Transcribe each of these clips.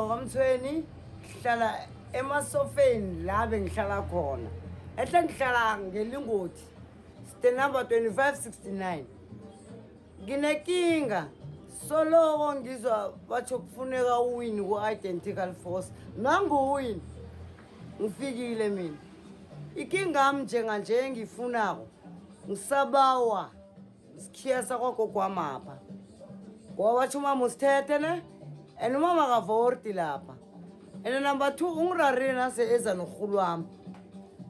Ngokamthweni ngihlala emasofeni la bengihlala khona. Ehle ngihlala ngelingoti. Ste number 2569. Nginekinga soloko ngizwa batho kufuneka uwini ku-identical force nanguwini ngifikile mina ikingami njenganje engiyifunako ngisabawa sikhiya sakwagogo wamapha ngoba batsho umama usithethe ne and umama akavorti lapha and number two ungirarire nase eza norhulu wami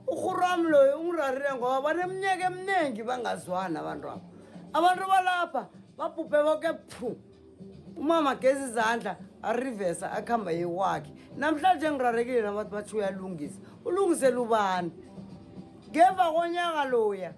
urhulu wami loyo ungirarire ngoba baneminyaka eminingi bangazwani abantu abo abantu balapha babhubhe boke phu umama gezi izandla arivesa akuhamba yewakhe namhlanje ngirarekile nabantu bathi uyalungisa ulungisela ubani ngemva konyaka loya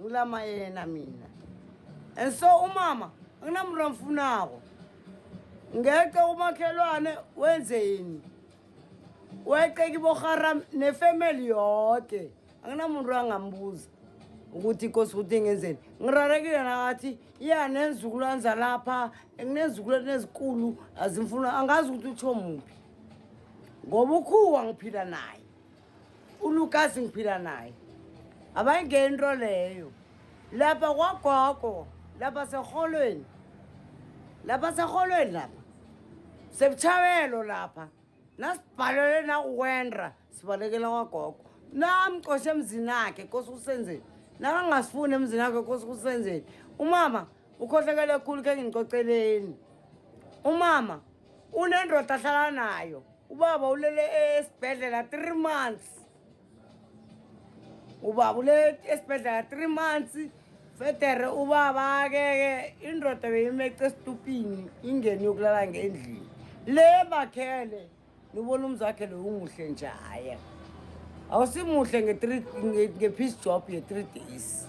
ngilama yena mina and so umama anginamntu amfunako ngeqe umakhelwane wenze yini weqe kiboharam nefamily yoke anginamuntu angambuza ukuthi inkosi ukuthi ngenzeni ngirarekile nakathi iya nenzukulwane zalapha nginezizukulwane ezikulu azimfuna angazi ukuthi utsho muphi ngoba ukhuwa ngiphila naye ulukazi ngiphila naye abayingento leyo lapha kwagogo lapha serholweni lapha serholweni lapha sebutshawelo lapha nasibhalele nakuwendra sibalekela kwagogo namcoshe emzini akhe kosi kusenzeni nakangasifuni emzini akhe kosi kusenzeni umama ukhohlekele khulu khe ngingicoceleni umama unendoda ahlala nayo ubaba ulele esibhedlela three months ubaba ulele esibhedlela three months federe ubaba keke indoda beyimeca esitupini ingeni yokulala ngendlini le bakhele nibona umzakhe loyo umuhle njaya awusimuhle nge-piece job ye-three days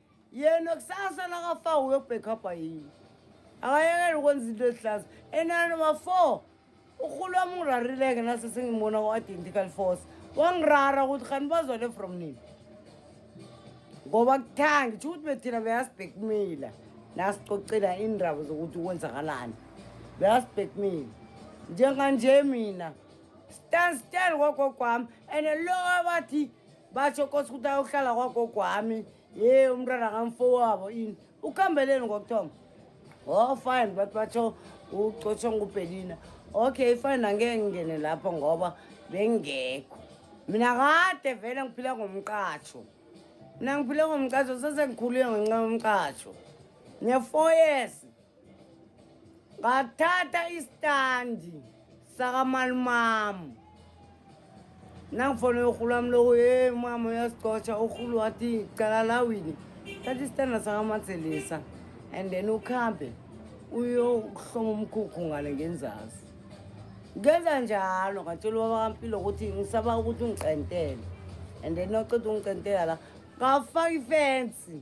yena kusasa nakafa uyobhekhapha yini akayekele ukwenza into ezihlaza enanoma four urhulu wami ungirarileke nase sengibona ku-identical force wangirara ukuthi khani bazwale from nini ngoba kuthangi tsho ukuthi bethina beyasibhekumila nasicocela iindaba zokuthi kwenzakalani beyasibhekumila njenganje mina stand still kogokwami and lo abathi basho kosi ukuthi ayohlala kwagogo wami ye umntwana kamfo wabo ini ukhambeleni ngokuthoma o oh, fine bathi basho ucotshwa ngubhelina okay fine angeke ngingene lapho ngoba bengekho mina kade vele ngiphila ngomqatsho mina ngiphile ngomqatsho sesengikhulile ngenxa yomqatsho ne-four years ngathatha isitandi sakamalumami nangifonela urhulu wami loko ye mama uyasicotsha urhulu wathi cala lawini thatha isitanda sakamatselisa and then ukuhambe uyokuhloma umkhukhu ngale ngenzazi ngenza njalo ngatshela ubaba kampilo ukuthi ngisaba ukuthi ungicentele and then oceda ungicentela la ngafaka ifensi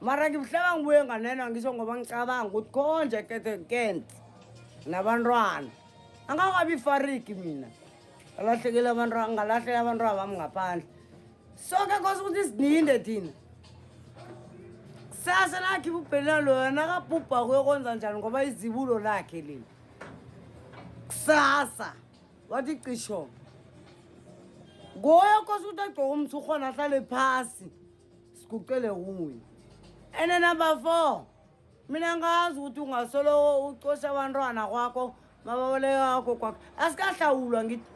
mara ngibuhlaba ngibuye nganena ngisho ngoba ngicabanga ukuthi konje kete kent nabantwana angakabi fariki mina alahlekile abantu ngalahleka abantu abami ngaphandle soke kose ukuthi sininde thina kusasa lakhe ibubhela loyo nakabhubha kuyokwenza njani ngoba izibulo lakhe leli kusasa wathi cisho ngoyo kose ukuthi agcoke umthi ukhona ahlale phasi sigucele kuye ene number four mina ngazi ukuthi ungasoloko ucosha abantwana kwakho mababolekakho kwakho asikahlawulwa ngithi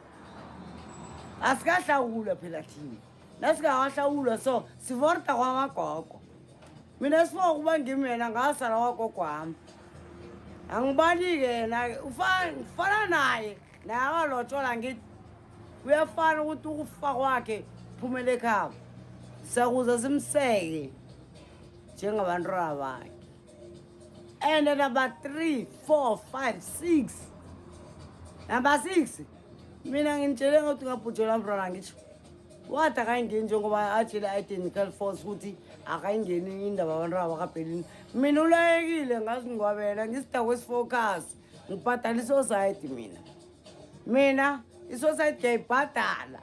asikahlawulwa phela thina nasingakahlawulwa so sivorta kwamagogo mina sifa ukuba ngimi yena ngasala kwagogo wami angibani-ke yena-ke ngifana naye naye akalotshola ngithi kuyafana ukuthi ukufa kwakhe phumela ekhabo sakuze simseke njengabantwana bakhe and number three four five six number six mina ngimtshele ngokuthi ngabhujelwa mntwana ngitsho wathi akayingeni njengoba atshele i-identical force ukuthi akayingeni indaba abantu abakabhelini mina ulayekile ngazingwabela ngisidako esifocus ngibhadala isosayidi mina mina isosayidi ngiyayibhadala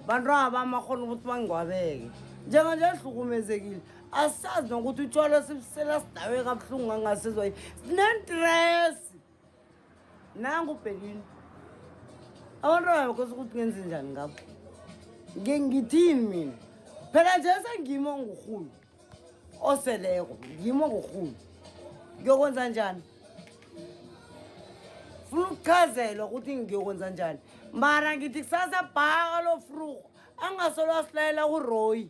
bantu aba amakhona ukuthi bangingwabeke njenganje ahlukumezekile asazi nokuthi utshwala sibusela sidawe kabuhlungu ngangasizwa sinentresi nangu ubhekini abantu abakhosa ukuthi ngenze njani ngabo ngengithini mina phela nje sengimo ngurhulu oseleko ngimo ngurhulu ngiyokwenza njani funa ukuchazelwa ukuthi ngiyokwenza njani mara ngithi kusasa bhaka lo frugo angasolo asilayela uroyi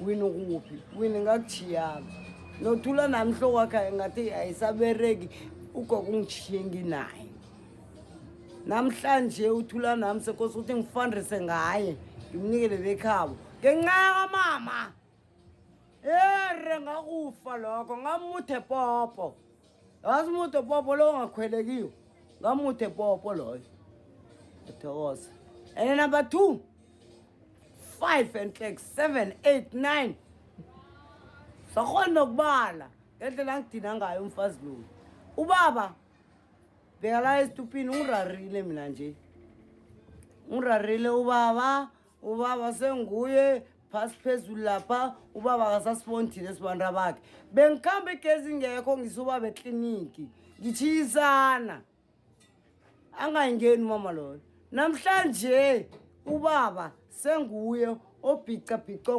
wini ukuphi wini ngakutshiyanga nothula nami hloko wakhe ngathi ayisabereki ugogo ungitshiye nginaye namhlanje uthula nami sekosi ukuthi ngifundise ngaye ngimnikele bekhabo ngenxa yakamama ere ngakufa lokho ngamuthe popo yazi umude popo lowo ongakhwelekiyo ngamude popo loyo athokoza and number two five and like seven eight nine sakhona nokubala ngendlela ngidina ngayo umfazi loyo ubaba bheka la esitupini ungirarile mina nje ungirarile ubaba ubaba senguye phasi phezulu lapha ubaba akasasiboni thina esibantu abakhe bengikhamba igezi ngekho ngisubaba ekliniki ngitshiyisana angayingeni umama loyo namhlanje ubaba senguye obhicabhico